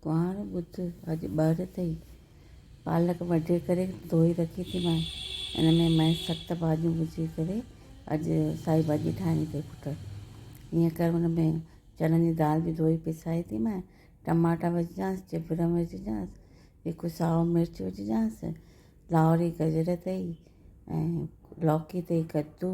ڪنوار ٻڌ اڄ ٻاهر اٿئي، پالڪ وڍي ڪري ڌوئي رکي ٿي مانء، ان ۾ مئي سخت ڀاڄيون وجهي ڪري اڄ سائي ڀاڄي ٺاهڻي اٿئي پٽ. ائين ڪر ان ۾ چڻن جي دال به ڌوئي پيسائي ٿي مانء، ٽماٽا وجهجانس، چڀرم وجهجانس، هڪ سائو مرچ وجهجانس، لائوري گجر اٿئي ۽ لوڪي اٿئي، ڪدو.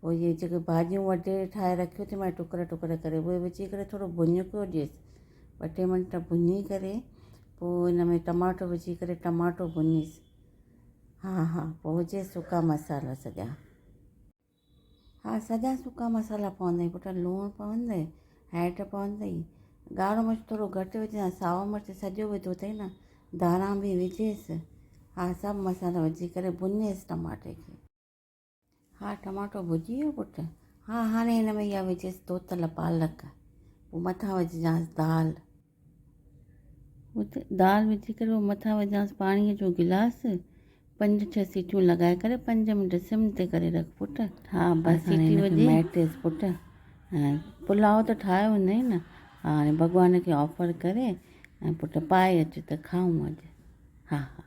پوء اهي جيڪي ڀاڄيون وڍي ٺاهي رکيو ٿي مانء ٽڪر ٽڪر ڪري اهي وجهي ڪري ٿورو ڀڃڪيو ڏيس ٻه ٽي منٽ ڀڃي ڪري پوء ان ۾ ٽماٽو وجهي ڪري ٽماٽو ڀڃيس ها ها پوء وجهيس سڪا مسالا سڄا ها سڄا سڪا مسالا پوندئي پٽ لوڻ پوندئي هيڊ پوندئي ڳاڙهو مرچ ٿورو گهٽ وجهان ساو مرچ سڄو وڌو اٿئي نه ڌاڻا به وجهيس ها سڀ مسالا وجهي ڪري ڀڃيس ٽماٽي کي. ها ٽماٽو ڀڄي ويو پٽ. ها هاڻي هن ۾ اها وجهيس ڌوتل پالڪ پوء مٿان وجهجانس دال. پوء دال وجهي ڪري پوء مٿان وجهجانس پاڻيء جو گلاس پنج ڇهه سيٽيون لڳائي ڪري پنج منٽ سم تي ڪري رک پٽ. ها بس هاڻي هن کي مهٽيس پٽ. پلاء ته ٺاهيو هوندئي نه. ها هاڻي ڀڳوان کي آفر ڪري ۽ پٽ پائي اچ ته کائون اڄ. ها ها.